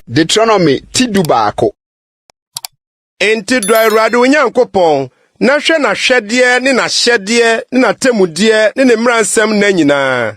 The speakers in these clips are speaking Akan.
Deuteronomy ti du baako. Enti dɔ Awurade wo Nyankopɔn na hwɛ n'ahwɛdeɛ ne n'ahyɛdeɛ ne n'atemmudeɛ ne ne mmaransɛm nna nyinaa.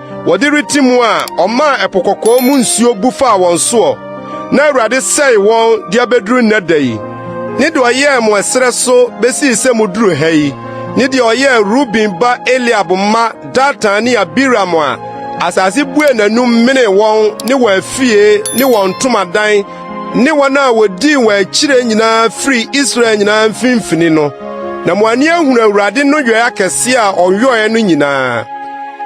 Wɔde rete mu a ɔmaa ɛpo kɔkɔɔ mu nsuo bu faa wɔn soɔ na Awurade sɛe wɔn de abɛduru nnɛ da yi ne deɛ ɔyɛɛ mo ɛserɛ so bɛsii sɛ moduru ha yi ne deɛ ɔyɛɛ Ruben ba Eliab mma Datan ne Abiram a asase buee n'anom menee wɔn ne wɔn afie ne wɔn ntomadan ne wɔn a wodii wɔn akyire nyinaa firi Israel nyinaa mfimfini no, na mo ani ahunu Awurade no yɔe akɛse a ɔyɔe no nyinaa.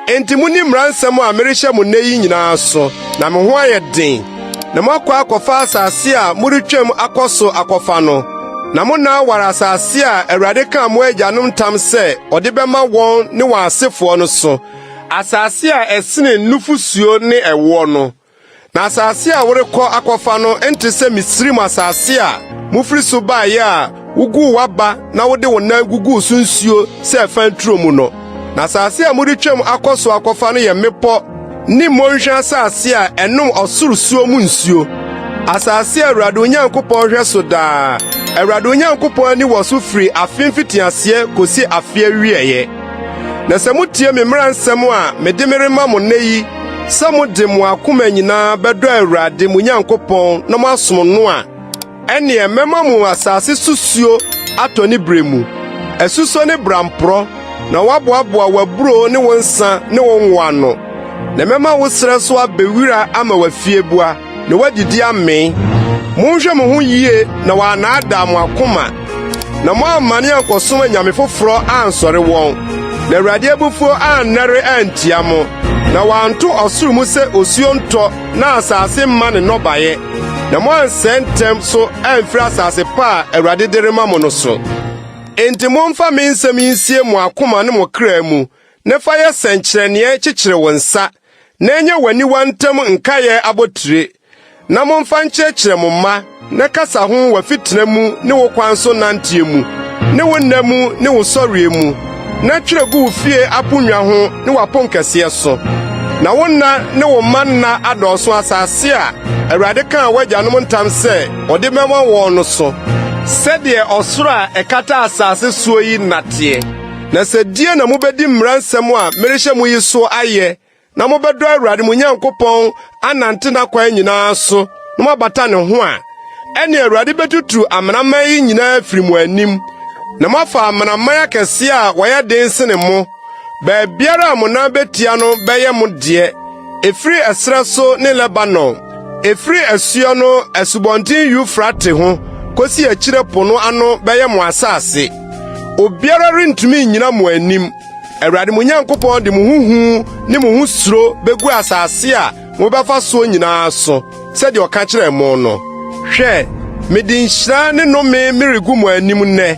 Enti monni mmara nsɛm a merehyɛ mo nnɛ yi nyinaa so, na mo ho ayɛ den, na moakɔ akɔfa asase a moretwam akɔ so akɔfa no, na mo nna aware asase a Awurade kaa mo agyanom ntam sɛ ɔde bɛma wɔn ne wɔn asefoɔ no so, asase a ɛsene nufosuo ne ɛwoɔ no. Na asase a worekɔ akɔfa no nte sɛ Misraim asase a mufiri so baeɛ a woguu w'aba na wode wo nan guguu so nsuo sɛ ɛfa nturo mu no. Na asase a moretwam akɔ so akɔfa no yɛ mmepɔ ne mmɔnhwa asase a ɛnom ɔsoro suo mu nsuo, asase a Awurade Onyankopɔn hwɛ so daa. Awurade Onyankopɔn ani wɔ so firi afe mfitiaseɛ kɔsi afe awieeɛ. Na sɛ mutie me mmara nsɛm a mede me rema mo nnɛ yi sɛ mode mo akoma nyinaa bɛdɔ Awurade mo Nyankopɔn na moasom no a, ɛnneɛ mɛma mo asase so suo atɔ ne berɛ mu, asusɔ ne bramporɔ, na wɔaboaboa w'aburoo ne wo nsã ne wo ngo ano. Na mɛma wo serɛ so abɛ wira ama w'afieboa. na wɔadidi amee. Monhwɛ mo ho yie na wɔannaadaa mo akoma, na moammane ankɔsom anyame foforɔ ansɔre wɔn, na Awurade abufuo annɛre antia mo, na wanto ɔsoro mu sɛ osuo ntɔ na asase mma ne nnɔbaeɛ, na moansɛe ntɛm so amfiri asase pa a Awurade de rema mo no so. Enti momfa me nsɛm yi nsie mo akoma ne mo kra mu, na fa yɛ sɛnkyerɛnneɛ kyekyere wo nsa, na ɛnyɛ w'aniwa ntam nkaeɛ abotire, na momfa nkyerɛkyerɛ mo mma na kasa ho w'afitena mu ne wo kwan so nanteɛ mu ne wo nna mu ne wo sɔreɛ mu, na twerɛ gu wo fie aponnwa ho ne w'aponkɛseɛ so, na wo nna ne wo mma nna adɔɔso asase a Awurade kaa w'agyanom ntam sɛ ɔde bɛma wɔn no so, sɛdeɛ ɔsoro a ɛkata asase soɔ yi nna teɛ. Na sɛ die na mobɛdi mmara nsɛm a merehyɛ mo yi so ayɛ, na mobɛdɔ Awurade mo Nyankopɔn anante n'akwan nyinaa so na moabata ne ho a, ɛne Awurade bɛtuturu amanaman yi nyinaa afiri mo anim, na moafa amanaman akɛse a wɔyɛ den sene mo. Baabiara a mo nan bɛtia no bɛyɛ mo deɛ, ɛfiri ɛserɛ so ne Lebanon. Ɛfiri asuo no asubɔnten Eufrate ho kɔsi akyire po no ano bɛyɛ mo asase. Obiara rentumi nnyina mo anim. Awurade mo Nyankopɔn de mo ho hu ne mo ho suro bɛgu asase a mobɛfa soɔ nyinaa so sɛdeɛ ɔka kyerɛɛ mo no. Hwɛ, mede nhyira ne nnome meregu mo anim nnɛ.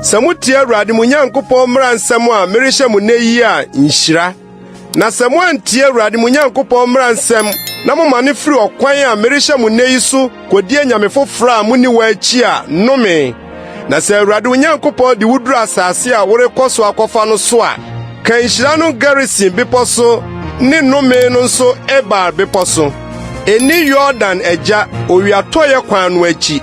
Sɛ motie Awurade mo Nyankopɔn mmara nsɛm a merehyɛ mo nnɛ yi a, nhyira. Na sɛ moantie Awurade mo Nyankopɔn mmara nsɛm na momane firi ɔkwan a merehyɛ mo nnɛ yi so kodi anyame foforo a munni wɔn akyi a, nnome! Na sɛ Awurade wo Nyankopɔn de wuduru asase a worekɔ so akɔfa no so a, ka nhyira no Gerisim bepɔ so ne nnome no nso Ebal bepɔ so. Enni Yordan agya owiatɔeɛ kwan no akyi,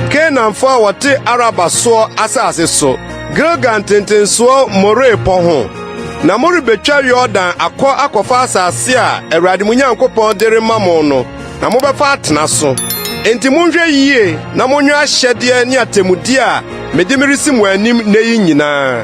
Kanaanfo a wɔte Araba soɔ asase so, Gilgal ntentensoɔ More pɔ ho. Na morebɛtwa Yordan akɔ akɔfa asase a Awurade mo Nyankopɔn de rema mo no, na mobɛfa atena so. Enti monhwɛ yie na monwɛ ahyɛdeɛ ne atemmudeɛ a mede meresi mo anim nnɛ yi nyinaa.